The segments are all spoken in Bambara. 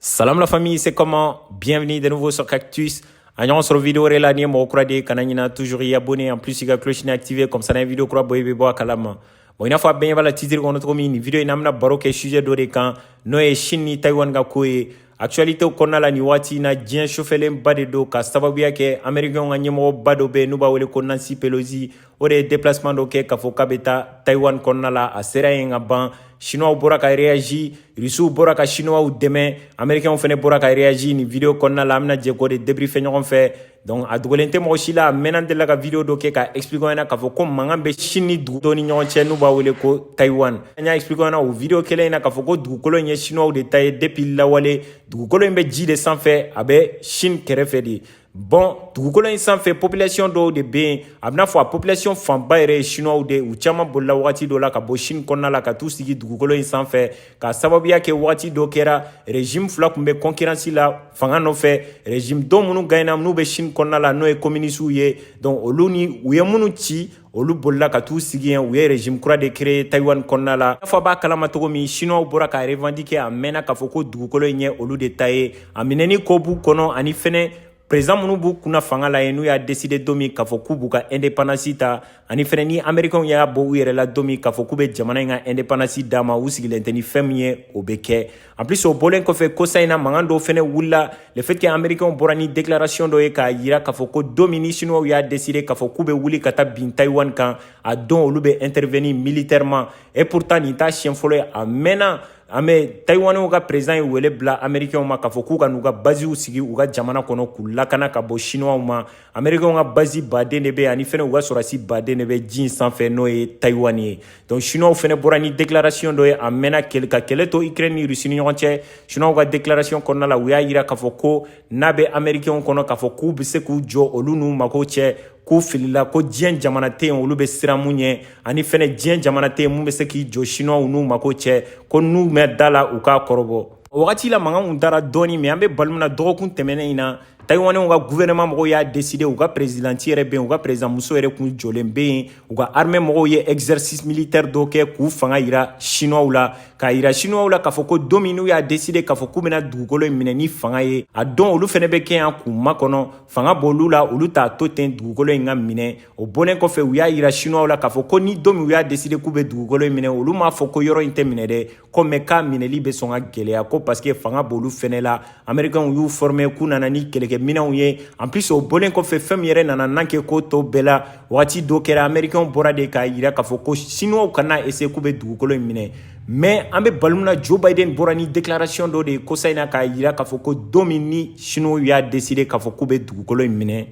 Salam la famille, c'est comment Bienvenue de nouveau sur Cactus. An ɲɔgɔn sɔrɔ vidéo wɛrɛ la n'i ye mɔgɔ kura de ye kana ɲina toujours i abonné en plus i ka cloche nin activé comme ça n'an ye vidéo kura bɔ i bɛ bɔ a kalama bon i n'a fɔ a bɛɛ ɲɛ b'a la titre kɔnɔ cogo min nin vidéo in an bɛna baro kɛ sujet dɔ de kan n'o ye Chine ni Taïwan ka ko ye actualité kɔnɔna la nin waati in na diɲɛ sofɛlenba de don k'a sababuya kɛ américains ka ɲɛmɔgɔba dɔ bɛ yen n'u b'a wele ko Nancy Pelosi o de ye deplacement dɔ kɛ k'a fɔ k'a bɛ taa Taiwan kɔnɔna la a sera yen ka ban Chinois bɔra ka réagi Russes bɔra ka Chinois dɛmɛ Américains fana bɔra ka réagi nin video kɔnɔna la an bɛna jɛ k'o de débriefer ɲɔgɔn fɛ donc a dogolen tɛ mɔgɔ si la a mɛnna an delila ka video dɔ kɛ k'a expliquer ɲɛna k'a fɔ ko mankan bɛ Chine ni dugu dɔ ni ɲɔgɔn cɛ n'u b'a wele ko Taiwan an y'a expliquer ɲɛna o video kelen in na k'a fɔ ko dugukolo in ye Chinois de ta ye depuis lawale dugukolo in bɛ ji de sanfɛ a bɛ Chine kɛrɛfɛ de Bɔn dugukolo in sanfɛ population dɔw de bɛ yen a bɛna fɔ a population fanba yɛrɛ ye chinois de ye u caman bolila wagati dɔ la ka bɔ Chine kɔnɔna la ka t'u sigi dugukolo in sanfɛ k'a sababuya kɛ wagati dɔ kɛra régime fila kun bɛ concurrence la fanga nɔfɛ régime dɔ minnu gagnera n'u bɛ Chine kɔnɔna la n'o ye communistes ye donc olu ni u ye minnu ci olu bolila ka t'u sigi yen u ye régime kura de créer Taïwan kɔnɔna la n'a fɔ a b'a kalama cogo min chinois bɔra k'a revendiquer a mɛnna k'a fɔ ko dugukolo in ye olu de ta ye a minɛni ko b'u kɔnɔ ani fɛnɛ président minnu b'u kunna fanga la yen n'u y'a décider don min k'a fɔ k'u b'u ka indépendance ta ani fɛnɛ ni américainw y'a bɔ u yɛrɛ la don min k'a fɔ k'u bɛ jamana in ka indépendance d'a ma u sigilen tɛ ni fɛn min ye o bɛ kɛ En plus o bɔlen kɔfɛ kosa in na mankan dɔw fɛnɛ wulila le fait que américains bɔra ni déclaration dɔ ye k'a yira k'a fɔ ko don min ni chinois y'a décider k'a fɔ k'u bɛ wuli ka taa bin Taïwan kan a don olu bɛ intervenir militairement et pourtant nin t'a siɲɛ fɔlɔ ye a mɛnna an bɛ tayiwaniw ka perezidan ye wele bila amerikɛnw ma k'a fɔ k'u ka n'u ka baziw sigi u ka jamana kɔnɔ k'u lakana ka bɔ chinois ma americains ka bazi baden de bɛ ani fɛnɛ u ka sɔrɔdasi baden de bɛ ji in sanfɛ n'o ye taiwan ye donc chinois fɛnɛ bɔra ni déclaration dɔ ye a mɛnna ka kɛlɛ to ukraine ni russie ni ɲɔgɔn cɛ chinois ka déclaration kɔnɔna la u y'a yira k'a fɔ ko n'a bɛ americains kɔnɔ k'a fɔ k'u bɛ se k'u jɔ olu n'u mago cɛ k'u filila ko diɲɛ jamana tɛ yen olu bɛ siran min ɲɛ ani fɛnɛ diɲɛ jamana tɛ yen min bɛ se k'i jɔ chinois n'u mago cɛ ko n'u ma da a la u k'a kɔrɔbɔ o wagati la mankan kun dara dɔɔni mɛ an bɛ balima na dɔgɔkun tɛmɛnen in na tayiwaniw ka guvɛrɛnɛman mɔgɔw y'a deside u ka perezidanti yɛrɛ be yen u ka perezidanmuso yɛrɛ kun jɔlen be yen u ka arme mɔgɔw ye exercice militaire dɔ kɛ k'u fanga yira sinuwaw la k'a yira sinuwaw la k'a fɔ ko don min n'u y'a deside k'a fɔ k'u bena dugukolo in minɛ ni fanga ye a don olu fɛnɛ be kɛ yan k'u makɔnɔ fanga b'olu la olu t'a to ten dugukolo in ka minɛ o bɔlen kɔfɛ u y'a yira sinuwaw la k'a fɔ ko ni don min u y'a deside k'u be dugukolo in minɛ olu m'a fɔ ko yɔrɔ in tɛ minɛ dɛ kɔmɛ k'a minɛli bɛ sɔn ka gɛlɛya ko parce que fanga b'olu fɛnɛ la amerikɛnw y'u forme k'u nana ni kɛlɛkɛminɛnw ye en plus o bɔlen kɔfɛ fɛn min yɛrɛ nana nan kɛ ko tɔw bɛɛ la wagati dɔ kɛra amerikɛnw bɔra de k'a yira k'a fɔ ko sinuwaw kana eseye k'u bɛ dugukolo in minɛ mɛ an bɛ waati min na joe biden bɔra ni declaration dɔ de ye kosa in na k'a yira k'a fɔ ko don min ni sinuwaw y'a deside k'a fɔ k'u bɛ dugukolo in minɛ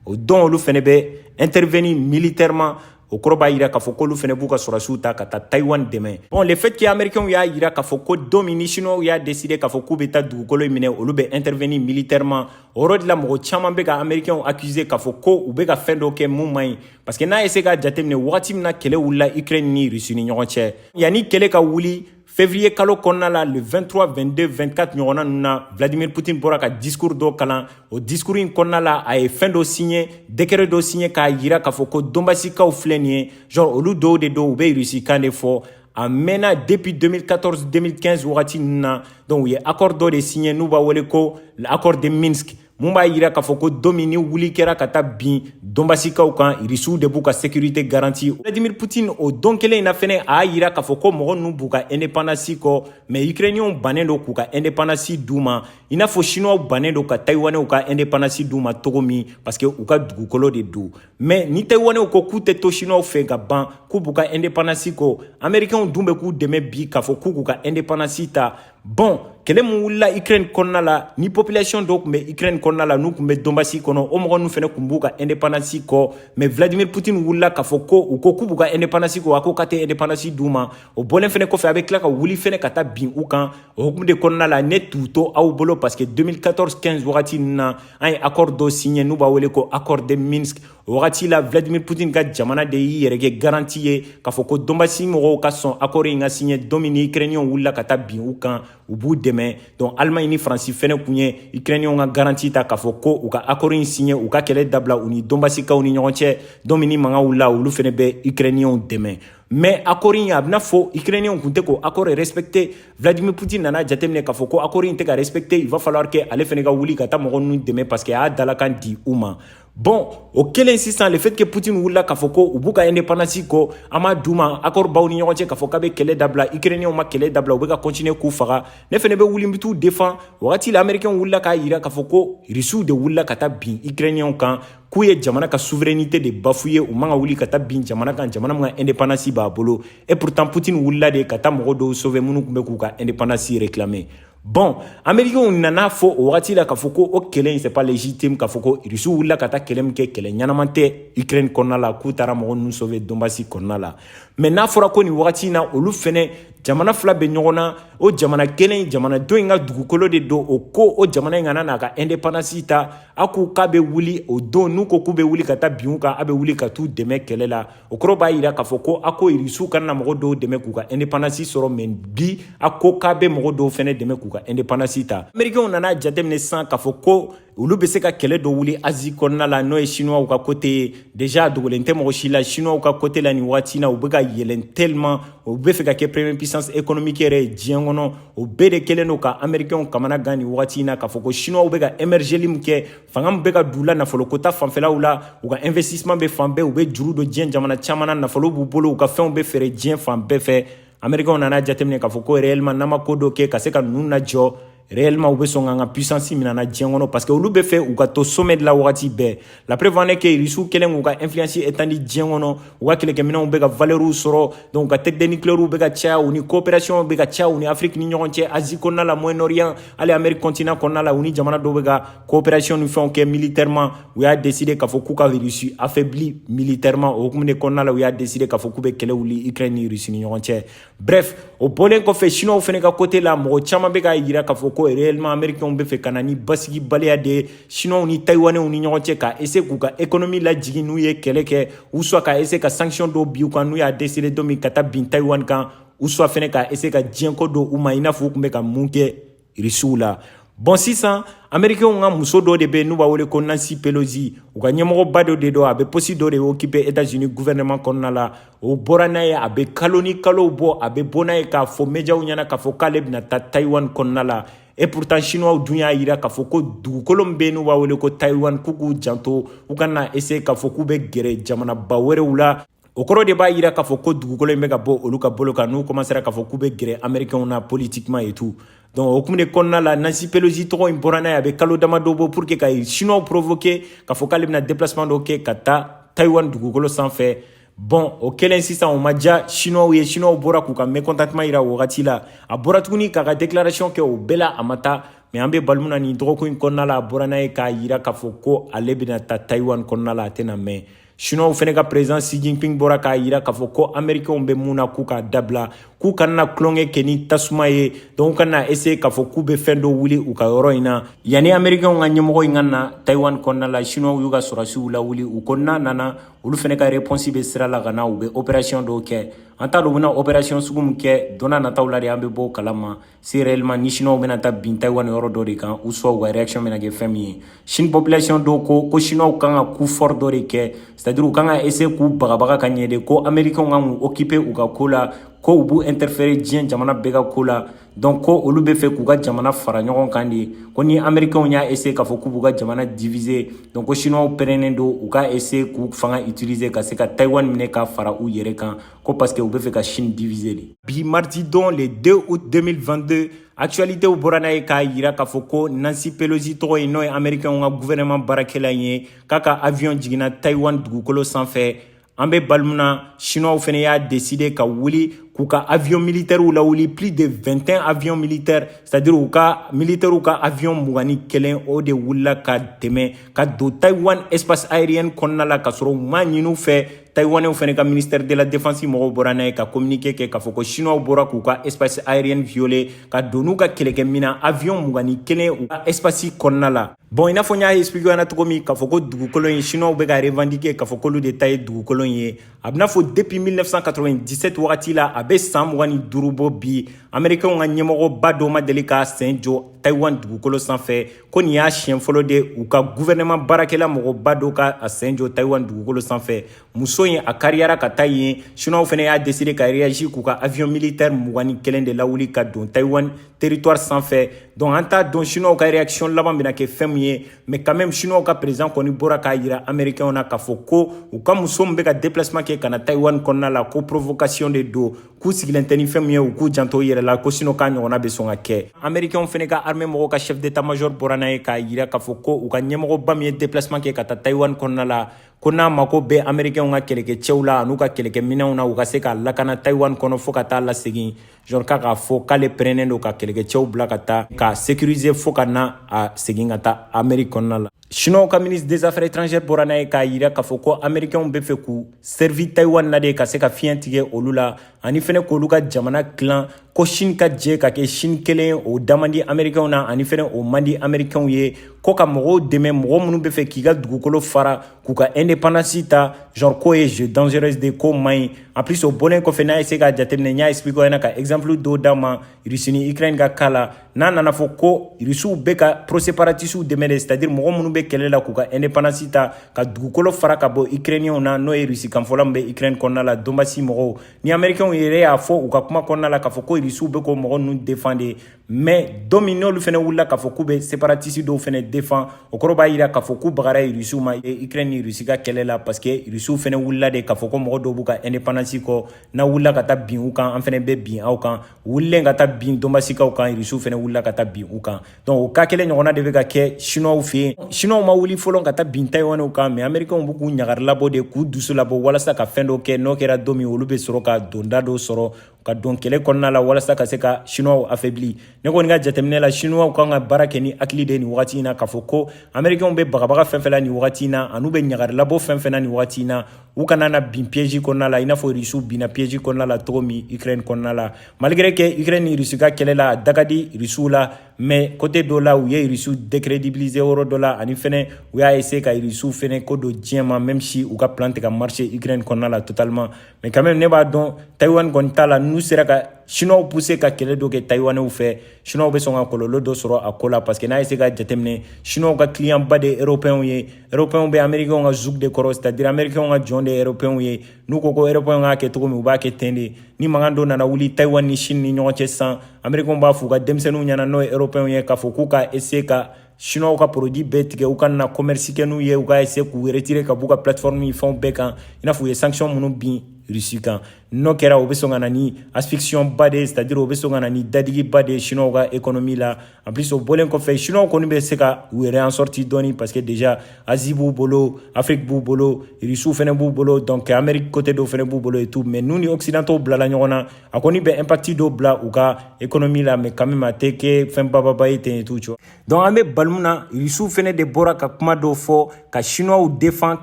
o don olu fɛnɛ bɛ intervenir militairement o kɔrɔ b'a yira k'a fɔ k'olu fɛnɛ b'u ka sɔrɔdasiw ta ka taa taiwan dɛmɛ bon le fait que américainw y'a yira k'a fɔ ko don min ni chinoisw y'a décider k'a fɔ k'u bɛ taa dugukolo in minɛ olu bɛ intervenir militairement o yɔrɔ de la mɔgɔ caman bɛ ka américainw accuser k'a fɔ ko u bɛ ka fɛn dɔ kɛ mun man ɲi parce que n'a ye se k'a jateminɛ wagati min na kɛlɛ wulila ukraine ni russie ni ɲɔgɔn cɛ yanni kɛlɛ ka wuli Février kalo kɔnɔna la le 23, 22, 24 ɲɔgɔnna ninnu na Vladimir Poutine bɔra ka discours dɔ kalan o discours in kɔnɔna la a ye fɛn dɔ signé décret dɔ signé k'a yira k'a fɔ ko donbasikaw filɛ nin ye genre olu dɔw de don u bɛ Russie kan de fɔ a mɛnna depuis 2014 2015 wagati ninnu na donc u ye accord dɔ de signé n'u b'a wele ko l'accord de Minsk mun b'a yira k'a fɔ ko don min ni wuli kɛra ka taa bin donbasikaw kan irisiw de b'u ka sekirite garanti vladimir putin o don kelen in na fɛnɛ a y'a yira k'a fɔ ko mɔgɔ ninnu b'u ka indepandansi kɔ mɛ ukrainiyɛnw bannen don k'u ka indepandansi d'u ma i n'a fɔ sinuwaw bannen don ka tayiwanɛw ka indepandansi d'u ma cogo min paske u ka dugukolo de don mɛ ni tayiwanɛw ko k'u tɛ to sinuwaw fɛ ka ban k'u b'u ka indepandansi kɔ amerikɛnw dun bɛ k'u dɛmɛ bi k'a fɔ k'u k'u ka indepandansi ta bon kɛlɛ min wulila ukraine kɔnɔna la ni population dɔw kun bɛ ukraine kɔnɔna la n'u kun bɛ donbasi kɔnɔ o mɔgɔ nu fɛnɛ kun b'u ka independance kɔ mais vladimir putin wulila k'a fɔ ko u ko k'u b'u ka independance kɔ a ko k'a tɛ independance d'u ma o bɔlen fɛnɛ kɔfɛ a bɛ tila ka wuli fɛnɛ ka taa bin u kan o hukumu de kɔnɔna la ne t'u to aw bolo parce que 2014 15 wagati ninnu na an ye accord dɔ signe n'u b'a wele ko accord de minsk o wagati la vladimir putin ka jamana de y'i yɛrɛ kɛ garanti ye k'a fɔ ko donbasi mɔgɔw ka sɔn akɔri in ka siɲɛ don min ni ukrainiyɛnw wulila ka taa bin u kan u b'u dɛmɛ donc allemagne ni faransi fɛnɛ kun ye ukrainiyɛnw ka garanti ta k'a fɔ ko u ka akɔri in siɲɛ u ka kɛlɛ dabila u ni donbasikaw ni ɲɔgɔn cɛ don min ni mankan wulila olu fɛnɛ bɛ ukrainiyɛnw dɛmɛ mais accord in a b'i n'a fɔ ukrainiyɛnw kun tɛ k'o accord respecte vladimir putin nana jateminɛ k'a fɔ ko accord in tɛ ka respecte il va falloir que ale fɛnɛ ka wuli ka taa mɔgɔ ninnu dɛmɛ parce que a y'a dalakan di u ma Bon o kelen sisan le fait que Poutine wulila k'a fɔ ko u b'u ka indépendance kɔ a m'a d'u ma accord b'aw ni ɲɔgɔn cɛ k'a fɔ k'a bɛ kɛlɛ dabila ukrainien ma kɛlɛ dabila u bɛ ka continuer k'u faga ne fɛnɛ bɛ wuli n bɛ t'u défend wagati la américain wulila k'a yira k'a fɔ ko russiw de wulila ka taa bin ukrainien kan k'u ye jamana ka souveraineté de bafouer u man ka wuli ka taa bin jamana kan jamana min ka indépendance b'a bolo et pourtant Poutine wulila de ka taa mɔgɔ dɔw sauver minnu kun bɛ k'u ka indépendance réclamer Bon Américains nan'a fɔ o wagati la k'a fɔ ko o kɛlɛ in c'est pas légitime k'a fɔ ko Russie wulila ka taa kɛlɛ min kɛ kɛlɛ ɲɛnama tɛ Ukraine kɔnɔna la k'u taara mɔgɔ ninnu sauver Donbass kɔnɔna la mais n'a fɔra ko nin wagati in na olu fɛnɛ jamana fila bɛ ɲɔgɔn na o jamana kelen in jamana dɔ in ka dugukolo de don o ko o jamana in kana n'a ka indépendance ta a ko k'a bɛ wuli o don n'u ko k'u bɛ wuli ka taa bin u kan a bɛ wuli ka t'u dɛmɛ kɛlɛ la o kɔrɔ b'a yira k'a fɔ ko a ko irisiw kana na mɔgɔ dɔw dɛmɛ k'u ka indepandansi sɔrɔ mɛ bi a ko k'a bɛ mɔgɔ dɔw fɛnɛ dɛmɛ k'u ka indepandansi ta amerikɛnw nana jateminɛ sisan k'a fɔ ko olu bɛ se ka kɛlɛ dɔ wuli azi kɔnɔna la n'o ye sinuwaw ka kote ye deja a dogolen tɛ mɔgɔ si la sinuwaw ka kote la nin waati na u bɛ ka yɛlɛn tellement u bɛ fɛ ka kɛ premier puissance économique yɛrɛ ye diɲɛ kɔnɔ o bɛɛ de kɛlen don ka amerikɛnw kamana gan nin waati na k'a fɔ ko sinuwaw bɛ ka emergeli min kɛ fanga min bɛ ka d'u la nafoloko ta fanfɛlaw la u ka investissement bɛ fan bɛɛ u bɛ juru don diɲɛ jamana caman na nafolo b'u bolo u ka fɛnw bɛ feere diɲɛ fan bɛɛ fɛ amerikɛnw nana jateminɛ k'a fɔ ko réellement n'an ma ko dɔ kɛ ka se ka ninnu lajɔ réellement u bɛ sɔn k'an ka puissance minɛ an na diɲɛ kɔnɔ parce que olu bɛ fɛ u ka to sommet de la wagati bɛɛ la preuve en est que russe kɛlen k'u ka influence étendre diɲɛ kɔnɔ u ka kɛlɛkɛminɛnw bɛ ka valɛriw sɔrɔ donc u ka tête de nikilɛriw bɛ ka caya u ni coopération bɛ ka caya u ni afiriki ni ɲɔgɔn cɛ asie kɔnɔna la moyen orient hali amérique continent kɔnɔna la u ni jamana dɔw bɛ ka coopération ni fɛnw kɛ militairement u y'a décide k'a fɔ k'u ka russie affaibli militairement o hukumu de kɔnɔna la u y'a décide k'a fɔ k'u bɛ kɛlɛ wuli ukraine ni russie ni ɲɔgɔn cɛ Bref, o bɔlen kɔfɛ Chinois fɛnɛ ka côté la mɔgɔ caman bɛ k'a yira k'a fɔ ko réellement Américains bɛ fɛ ka na ni basigibaliya de ye Chinois ni Taïwanais ni ɲɔgɔn cɛ ka essayer k'u ka économie lajigin n'u ye kɛlɛ kɛ ou soit ka essayer ka sanction dɔw bin u kan n'u y'a décider don min ka taa bin Taïwan kan ou soit fɛnɛ ka essayer ka diɲɛ kɔ don u ma i n'a fɔ u tun bɛ ka mun kɛ irisiw la bɔn sisan amerikɛnw ka muso dɔ de bɛ n'u b'a wele ko nansi pelosi u ka ɲɛmɔgɔba dɔ de don a bɛ posi dɔ de okipe etazini guvɛnɛman kɔnɔna la o bɔra n'a ye a bɛ kalo ni kalow bɔ a bɛ bɔ n'a ye k'a fɔ médiaw ɲɛ na k'a fɔ k'ale bɛna taa taiwan kɔnɔna la et pourtant chinois dun y'a yira k'a fɔ ko dugukolo min bɛ n'u b'a wele ko taiwan k'u k'u janto u kana essaye k'a fɔ k'u bɛ gɛrɛ jamanaba wɛrɛw la o kɔrɔ de b'a yira k'a fɔ ko dugukolo in bɛ ka bɔ olu ka bolo kan n'u kɔmansera k'a fɔ k'u bɛ gɛrɛ amerikɛnw na politikiman et tout donc o hukumu de kɔnɔna la nansi pelosi tɔgɔ in bɔra n'a ye a bɛ kalo damadɔ bɔ pour que ka chinois provoquer k'a fɔ k'ale bɛna déplacement dɔ kɛ ka taa taiwan dugukolo sanfɛ bɔn o kɛlen sisan o ma diya chinois ye chinois bɔra k'u ka mécontentement yira o wagati la a bɔra tuguni k'a ka déclaration kɛ o bɛɛ la a ma taa mɛ an bɛ waati min na nin dɔgɔkun in kɔnɔna la a bɔra n'a ye k'a yira k'a fɔ ko ale bɛna taa taiwan kɔnɔna la a tɛna mɛn Chinois fɛnɛ ka président Xi Jinping bɔra k'a yira k'a fɔ ko Américains bɛ mun na k'u k'a dabila k'u kana tulonkɛ kɛ ni tasuma ye donc u kana essayer k'a fɔ k'u bɛ fɛn dɔ wuli u ka yɔrɔ in na yanni Américains ka ɲɛmɔgɔ in ka na Taiwan kɔnɔna la Chinois y'u ka sɔrɔdasiw lawuli u ko n'a nana olu fɛnɛ ka réponse bɛ sira la ka na u bɛ opération dɔw kɛ an t'a dɔn u bɛna opération sugu min kɛ don nataw la de an bɛ bɔ a kalama si réellement ni chinois bɛna taa bin taiwan yɔrɔ dɔ de kan ou soit u ka réaction bɛna kɛ fɛn min ye chine population dɔw ko ko chinois kan ka coup fort dɔ de kɛ c'est à dire u kan ka essayer k'u bagabaga ka ɲɛ de ko américain kan k'u occuper u ka ko la ko u b'u interférer diɲɛ jamana bɛɛ ka ko la donc ko olu bɛ fɛ k'u ka jamana fara ɲɔgɔn kan de ko ni américainw y'a essayer k'a fɔ k'u b'u ka jamana diviser donc ko chinois pɛrɛnnen don u ka essayer k'u fanga utiliser ka se ka taiwan minɛ ka fara u yɛrɛ kan ko parce que u bɛ fɛ ka Chine diviser de. Bi mardi don le 2 août 2022 actualités bɔra n'a ye k'a jira k'a fɔ ko Nancy Pelosi tɔgɔ ye n'o ye américainw ka gouvernement baarakɛla in ye k'a ka avion jiginna Taïwan dugukolo sanfɛ an bɛ bali mun na chinois fana y'a décider ka wuli k'u ka avion militaires lawuli plus de 21 avions militaires c'est à dire u ka militaires ka avion mugan ni kelen o de wulila ka tɛmɛ ka don Taïwan espace aérienne kɔnɔna la ka sɔrɔ u m'a ɲini u fɛ Taïwanais fana ka ministère de la défense mɔgɔw bɔra n'a ye ka communiqué kɛ k'a fɔ ko chinois bɔra k'u ka espace aérienne violer ka don n'u ka kɛlɛkɛminan avion mugan ni kelen u ka espace kɔnɔna la bon i n'a fɔ n y'a expliqué ɲɛna cogo min k'a fɔ ko dugukolo in chinois bɛ k'a revendiquer k'a fɔ k'olu de ta ye dugukolo in ye a bɛ n'a fɔ depuis 1997 wagati la a bɛ san mugan ni duuru bɔ bi américainw ka ɲɛmɔgɔba dɔ ma deli k'a sen jɔ taïwan dugukolo sanfɛ ko nin y'a siɲɛ fɔlɔ de u ka guvɛrɛnɛman baarakɛla mɔgɔba dɔ ka a sen jɔ taiwan dugukolo sanfɛ muso in a kariyara ka taa yen siniwaw fana y'a deside ka reyaji k'u ka avion militaire mugan ni kelen de lawuli ka don taiwan territoire sanfɛ donc an t'a dɔn siniwaw ka réaction laban bɛna kɛ fɛn min ye mais quand même siniwaw ka président kɔni bɔra k'a yira américainw na k'a fɔ ko u ka muso min bɛ ka déplacement kɛ ka na taiwan kɔnɔna la ko provocation de don k'u sigilen tɛ ni fɛn min ye u k'u janto u yɛrɛ la ko sinon k'a ɲɔgɔnna bɛ sɔn ka kɛ amerikɛnw fɛnɛ ka armée mɔgɔw ka chef d'état major bɔra n'a ye k'a yira k'a fɔ ko u ka ɲɛmɔgɔba min ye déplacement kɛ ka taa taiwan kɔnɔna la ko n'a mako bɛ amerikɛnw ka kɛlɛkɛcɛw la an'u ka kɛlɛkɛminɛnw na u ka se k'a lakana taiwan kɔnɔ fɔɔ ka taa lasegin genre ka k'a fɔ k'ale pɛrɛnnen don ka kɛlɛkɛcɛw bila ka taa k'a sécuriser fɔɔ ka na a segin ka taa amerique kɔnɔna la Siniwaw ka ministre des affaires étrangères bɔra n'a ye k'a jira k'a fɔ ko amerikɛnw bɛ fɛ k'u servir taiwan na de ka se ka fiɲɛ tigɛ olu la ani fana k'olu ka jamana tilan ko sini ka jɛ ka kɛ sini kelen o da man di amerikɛnw na ani fana o man di amerikɛnw ye ko ka mɔgɔw dɛmɛ mɔgɔ minnu bɛ fɛ k'u ka dugukolo fara k'u ka indépendance ta genre k'o ye jeu dangereuse de k'o man ɲi en plus o bɔlen kɔfɛ n'aw ye se k'a jateminɛ n y'a expliquer aw ɲɛna ka exemple dɔw d'aw ma russie ni ukraine ka cas la n'a nana fɔ ko irisiw bɛ ka pro-séparatistew dɛmɛ de c'est-à-dire mɔgɔ minnu bɛ kɛlɛ la k'u ka indépendance ta ka dugukolo fara ka bɔ ukrainiyɛnw na n'o ye irisi kanfɔla min bɛ ukraine kɔnɔna la donbasi mɔgɔw ni américainw yɛrɛ y'a fɔ u ka kuma kɔnɔna la k'a fɔ ko irisiw bɛ k'o mɔgɔ ninnu défendre de mais don min n'olu fana wulila k'a fɔ k'u bɛ séparatiste dɔw fana défendre o kɔrɔ b'a jira k'a fɔ k'u bagara irisiw ma ukraine ni irisi ka kɛlɛ la parce que irisiw fana wulila de k'a fɔ ko mɔgɔ dɔw b'u ka indépendance kɔ n'aw wulila ka taa bin u kan an fana bɛ bin aw kan wulilen ka taa bin donbasikaw kan irisiw fɛnɛ wulila ka taa bin u kan donc o ko kelen ɲɔgɔnna de bɛ ka kɛ shinɔw fɛ yen shinɔw ma wuli fɔlɔ ka taa bin tayiwaniw kan mais amerikɛnw bɛ k'u ɲagari labɔ de k'u dusu labɔ walasa ka fɛn dɔ kɛ n'o kɛra don min olu bɛ sɔrɔ ka donda dɔ sɔrɔ ka don kɛlɛ kɔnɔna la walasa ka se ka shinɔw affaiblir ne kɔni ka jateminɛ la shinɔw kan ka baara kɛ ni hakili de nin wagati in na k'a fɔ ko amerikɛnw bɛ bagabaga fɛn fɛn la nin wagati in na an'u bɛ ɲagari labɔ fɛn fɛn na nin wagati in na u kana na bin piège kɔnɔna la i n'a fɔ rusiw binna piège kɔnɔna la cogo min ukraine kɔnɔna la malgré que ukraine ni rusi ka kɛlɛ la da ka di rusiw la mais côté dɔ la u ye rusiw décrédibiliser yɔrɔ dɔ la ani fɛnɛ u y'a essayer ka rusiw fɛnɛ kɔ don diɲɛ ma même si u ka plan tɛ ka marché ukraine kɔnɔna la totalement mais quand même ne b'a dɔn taïwan kɔni ta la n'u sera ka chinois pousser ka kɛlɛ dɔ kɛ taïwanɛw fɛ chinois bɛ sɔn ka kɔlɔlɔ dɔ sɔrɔ a ko la parce que n'a ye essayer ka jateminɛ chinois ka client ba de ye européens ye eropɛnw bɛ amerikɛnw ka joug de kɔrɔ c'est à dire amerikɛnw ka jɔn de ye eropɛnw ye n'u ko ko eropɛnw k'a kɛ cogo min u b'a kɛ ten de ni mankan dɔ nana wuli taiwan ni chine ni ɲɔgɔn cɛ sisan amerikɛnw b'a f'u ka denmisɛnninw ɲɛna n'o ye eropɛnw ye k'a fɔ k'u ka essayer ka chinois ka produit bɛɛ tigɛ u kana commerce kɛ n'u ye u ka essayer k'u retirer ka b'u ka plateforme ni fɛnw bɛɛ kan i n'a fɔ u ye sanction minnu bin rusi kan n'o kɛra o bɛ sɔn ka na ni asphyxion ba de ye c'est à dire o bɛ sɔn ka na ni dadigiba de ye chinois ka économie la En plus o bɔlen kɔfɛ chinois kɔni bɛ se ka u yɛrɛ en sortir dɔɔni parce que déjà Asie b'u bolo Afrique b'u bolo Russes fana b'u bolo donc Amérique côté dɔ fana b'u bolo et tout mais n'u ni occidentaux bilala ɲɔgɔn na a kɔni bɛ impact dɔ bila u ka économie la mais quand même a tɛ kɛ fɛn bababa ye ten et tout tu vois donc an bɛ waati min na Russes fana de bɔra ka kuma dɔw fɔ ka chinois défendre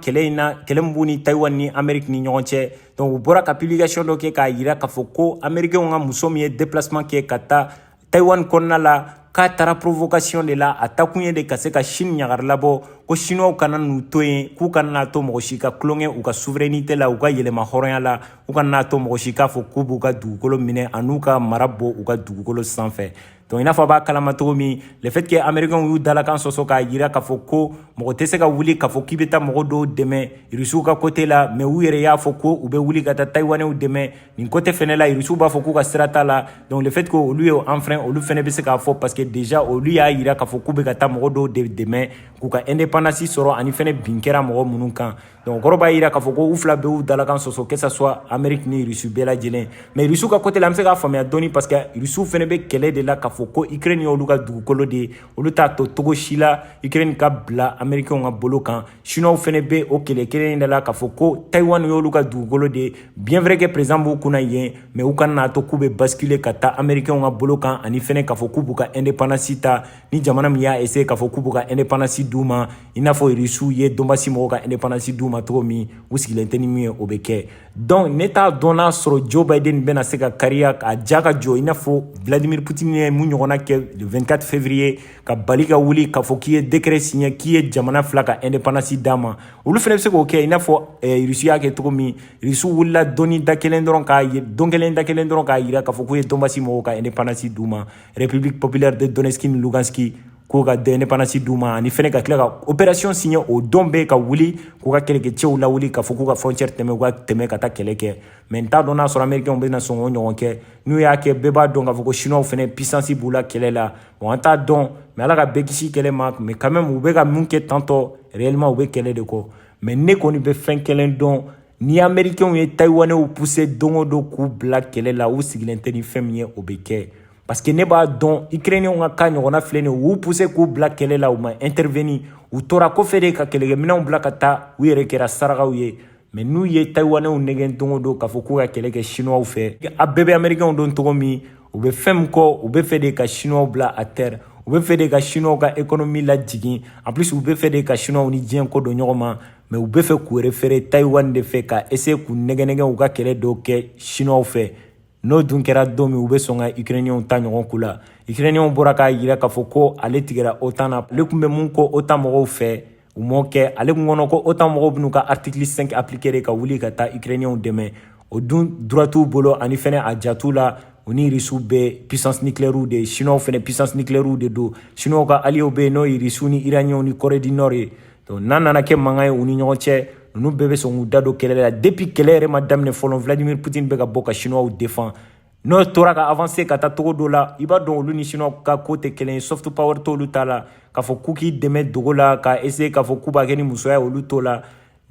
kɛlɛ in na kɛlɛ min b'u ni Taïwan ni Amérique ni ɲɔgɔn cɛ donc u bɔra ka publication dɔ kɛ k'a jira k'a fɔ ko américains ka muso min ye déplacement kɛ ka taa Tayiwani kɔnɔna la k'a taara provocation de la a taakun ye de ka se ka sini ɲagari labɔ ko siniw kana n'u to yen k'u kana n'a to mɔgɔ si ka tulonkɛ u ka souveraineté la u ka yɛrɛmahɔrɔnya la u kana n'a to mɔgɔ si k'a fɔ k'u b'u ka dugukolo minɛ an'u ka mara bɔ u ka dugukolo sanfɛ donc i n'a fɔ a b'a kalama cogo min le fait que américains y'u dalakan sɔsɔ k'a yira k'a fɔ ko mɔgɔ tɛ se ka wuli k'a fɔ k'i bɛ taa mɔgɔ dɔw dɛmɛ rusiw ka côté la mais u yɛrɛ y'a fɔ ko u bɛ wuli ka taa tayiwanɛw dɛmɛ nin côté fɛnɛ la irisiw b'a fɔ k'u ka sira t'a la donc le fait que olu y'a enfreint olu fɛnɛ bɛ se k'a fɔ parce que déjà olu y'a yira k'a fɔ k'u bɛ ka taa mɔgɔ dɔw de dɛmɛ k'u ka indépendance sɔrɔ ani fɛnɛ bin kɛra mɔgɔ minnu kan donc o kɔrɔ b'a yira k'a fɔ ko u fila bɛɛ y'u dalakan sɔsɔ que ça soit amérique ni irisiw bɛɛ lajɛlen mais irisiw ka côté la an bɛ se k'a faamuya dɔɔni parce que irisiw fɛnɛ bɛ kɛlɛ de la k'a fɔ ko ukraine y'olu ka dugukolo de ye olu t'a to cogo si la ukraine ka bila américainw ka bolo kan chinois fana bɛ o kelen kelen in de la k'a fɔ ko taiwan y'olu ka dugukolo de ye bien vrai que président b'u kunna yen mais u kana n'a to k'u bɛ basculer ka taa américainw ka bolo kan ani fana k'a fɔ k'u b'u ka indépendance ta ni jamana min y'a essayer k'a fɔ k'u b'u ka indépendance d'u ma i n'a fɔ rusiw ye donbasi mɔgɔw ka indépendance d'u ma cogo min u sigilen tɛ ni min ye o bɛ kɛ donc ne t'a dɔn n'a sɔrɔ joe biden bɛna se ka kariya a ja ka jɔ i n'a fɔ vladimir putin ye mun ɲɔgɔnna kɛ le 24 février ka bali ka wuli k'a fɔ k'i ye dekɛrɛ siɲɛ k'i ye jamana fila ka ɛndepandansi d'a ma olu fana bɛ se k'o kɛ i n'a fɔ eh, irisi y'a kɛ cogo min irisi wulila don ni da kelen dɔrɔn k'a ye don kelen da kelen dɔrɔn k'a yira k'a fɔ k'u ye donbasi mɔgɔw ka ɛndepandansi d'u ma republique populaire de donetski ni luganski k'o ka ɛndepandansi d'u ma ani fɛnɛ ka tila ka opération siɲɛ o don bɛɛ ka wuli k'u ka kɛlɛkɛcɛw lawuli k'a fɔ k'u ka frontière tɛmɛ u ka tɛmɛ ka taa kɛlɛ kɛ mɛ n t'a dɔn n'a sɔrɔ américain bɛna sɔn k'o ɲɔgɔn kɛ n'u y'a kɛ bɛɛ b'a dɔn k'a fɔ ko chinois fɛnɛ puissance b'u la kɛlɛ la bon an t'a dɔn mɛ ala ka bɛɛ kisi kɛlɛ ma mɛ quand même u bɛ ka min kɛ tantɔ réellement u bɛ kɛlɛ de kɔ mɛ ne kɔni bɛ fɛn kelen dɔn ni américainw ye taïwanɛw poussé don o don k'u bila kɛlɛ la u sigilen tɛ ni fɛn min ye o bɛ kɛ parce que ne b'a dɔn ukrainienw ka ka ɲɔgɔnna filɛ nin u poussé k'u bila kɛlɛ la u ma intervenir u tora kɔfɛ de ka kɛlɛkɛminɛnw bila ka taa u yɛrɛ kɛra sarakaw ye mɛ n'u ye tayiwanɛw nɛgɛn don o don k'a fɔ k'u ka kɛlɛ kɛ sinuwaw fɛ an bɛɛ bɛ amerikɛnw dɔn cogo min u bɛ fɛn min kɔ u bɛ fɛ de ka sinuwaw bila à terre u bɛ fɛ de ka sinuwaw ka ekonomi lajigin en plus u bɛ fɛ de ka sinuwaw ni diɲɛ kɔ don ɲɔgɔn ma mɛ u bɛ fɛ k'u refere tayiwan de fɛ ka eseye k'u nɛgɛnɛgɛn u ka kɛlɛ dɔw kɛ sinuwaw fɛ n'o dun kɛra don min u bɛ sɔn ka ukrainiyɛnw ta ɲɔgɔn k'u la ukrainiyɛnw bɔra k'a yira k'a fɔ ko ale tigɛra otan na ale tun bɛ min kɔ otan mɔgɔw fɛ U m'o kɛ ale kun kɔnɔ ko OTAN mɔgɔw bɛn'u ka article 5 appliquer ka wuli ka taa Ukrainiens dɛmɛ o dun droit t'u bolo ani fana a ja t'u la u ni Russes bɛɛ puissance nucléaire de ye Chinois fana puissance nucléaire de don Chinois ka alliés bɛ yen n'o ye Russes ni Iraniens ni Corée du Nord ye donc n'a nana kɛ mankan ye u ni ɲɔgɔn cɛ ninnu bɛɛ bɛ sɔn k'u da don kɛlɛ la depuis kɛlɛ yɛrɛ ma daminɛ fɔlɔ Vladimir Poutine bɛ ka bɔ ka Chinois défend n'o tora ka avanse ka taa cogo dɔ la i b'a dɔn olu ni sinuwaw ka ko tɛ kelen ye soft power t'olu ta la k'a fɔ k'u k'i dɛmɛ dogo la ka essaye k'a fɔ k'u b'a kɛ ni musoya olu t'o la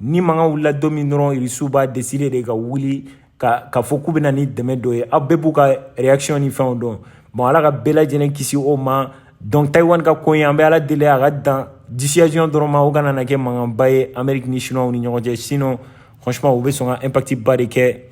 ni mankan wulila don min dɔrɔn irisiw b'a deside de ka wuli ka k'a fɔ k'u bɛ na ni dɛmɛ dɔ ye aw bɛɛ b'u ka reaction ni fɛnw dɔn bon ala ka bɛɛ lajɛlen kisi o ma donc taiwan ka ko ye an bɛ ala deli a ka dan dissuasion dɔrɔn ma o kana na kɛ mankanba ye amérique ni chinois ni ɲɔgɔn cɛ sinon franchement u bɛ sɔn ka impact ba de kɛ